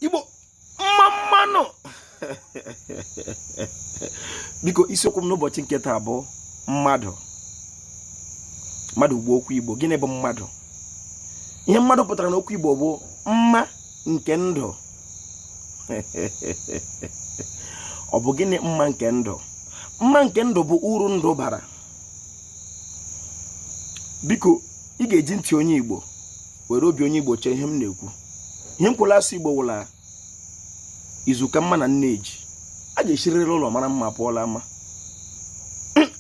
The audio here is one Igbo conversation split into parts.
igbo mma mma nụ biko isiokwu m n'ụbọchị nke taa bụ mmadụ mmadụ bụ okwu igbo gịnị bụ mmadụ ihe mmadụ pụtara n'okwu igbo bụ mma nke ndụ ọ bụ gịnị mma nke ndụ mma nke ndụ bụ uru ndụ bara biko ị ga-eji ntị onye igbo were obi onye igbo chee ihe m na-ekwu ihe m kwụla asụ igbo wụ la izu ka mma na nne ji a ga-esirịrị ụlọ mara mma pụọ la ama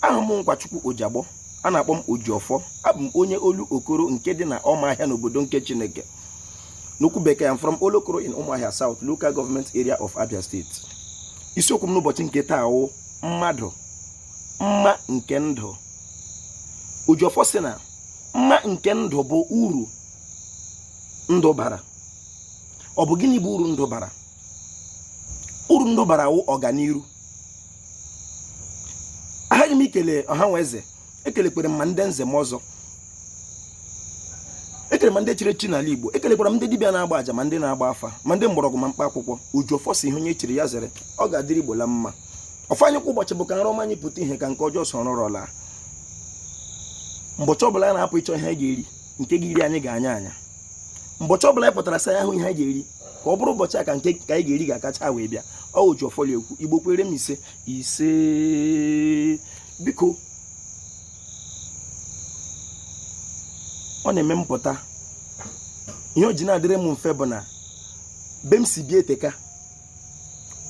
awụ m nkwachukwu ojiagbọ a na-akpọ m ojiọfọ abụ m onye olu okoro nke dị na ọmahịa n'obodo nke chineke n'okwu bekee i'm from olokoro in ụmụahịa south local government area of abia state isiokwu m n'ụbọchị nke taa wụ mmadụ mma nke ndụ ojiọfọ sị na mma nke ndụ bụ uru ndụ bara ọ bụ gịnị bụ uru ndụ bara uru ndụ bara wụ ọganiru ahaghị m ikele ọha nwe eze ekelekwere m ma ndị nze ma ọzọ ekele ma ndị chiri echi n'ala igbo ekelekwara m ndị dibịa na-agba aja ma ndị na-agba afa ma ndị mgbọrọgwụ ma mkpa akwụkwọ ojiọfọ sị ihe onye chiri ya zere ọ ga-adịrị igbo la mma ọfọ anyị kwa ụbọchị bụ ka nrọ ọma anyị pụta ihe ka nke ọjọọ soro nrọ laa mbọchị ọbụla a na-apụ ịchọ ihe anyị ga-eri nke ga-eri anyị gaa anya anya mbọchị ọbụla anyị pụtara saa anya hụ ihe anyị ga-eri ka ọ bụrụ ụbọchị a ka nke ka anyị ga-eri ga-akacha wee bịa ọ ojiọfọ la-ekwu igbo kwere m ise ise biko ọ na-eme mpụta ihe o ji na-adịrị m mfe bụ na ebe m si bịa eteka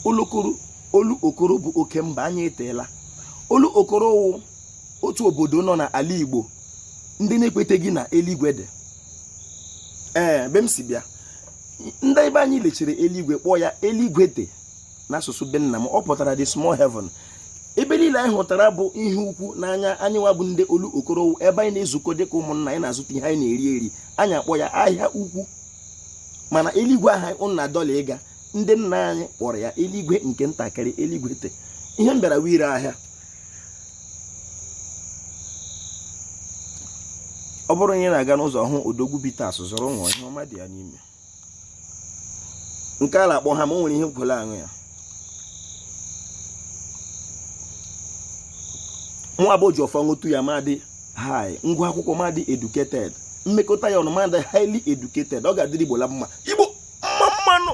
olokoro olu okoro bụ oke mba anya eteela olu okoro wụ otu obodo nọ n'ala igbo ndị na-ekweteghị na eluigwe dị ebe m si bịa ndị ebe anyị lechiri eluigwe kpọọ ya eluigwe te n'asụsụ be nna m ọ pụtara the small heaven ebe niile anyị hụtara bụ ihe ukwu n'anya anyị nwa bụ ndị olu okoro ebe anyị na-ezukọ dịka ụmụnna anyị na-azụta ihe anyị na-eri eri anyị akpọ ya ahịa ukwu mana eluigwe ahụ ụnụ na-adọ la ịga ndị nna anyị kpọrọ ya eluigwe nke ntakịrị eluigwe te ihe m bịara wụ ire ahịa ọ bụrụ onye na-aga n'ụzọ hụ odogwu bitters zụrụ ṅụọ ihe ọma dị ya n'ime nke a na-akpọ hammer o nwere ihe m kwụla aṅụ ya nwa bụ ojiọfọ ṅụtụ ya m adị high m gụọ akwụkwọ m adị educated m mekọta ya ọnụ m adị highly educated ọ ga-adịrị igbo la mma igbo mma mma nụ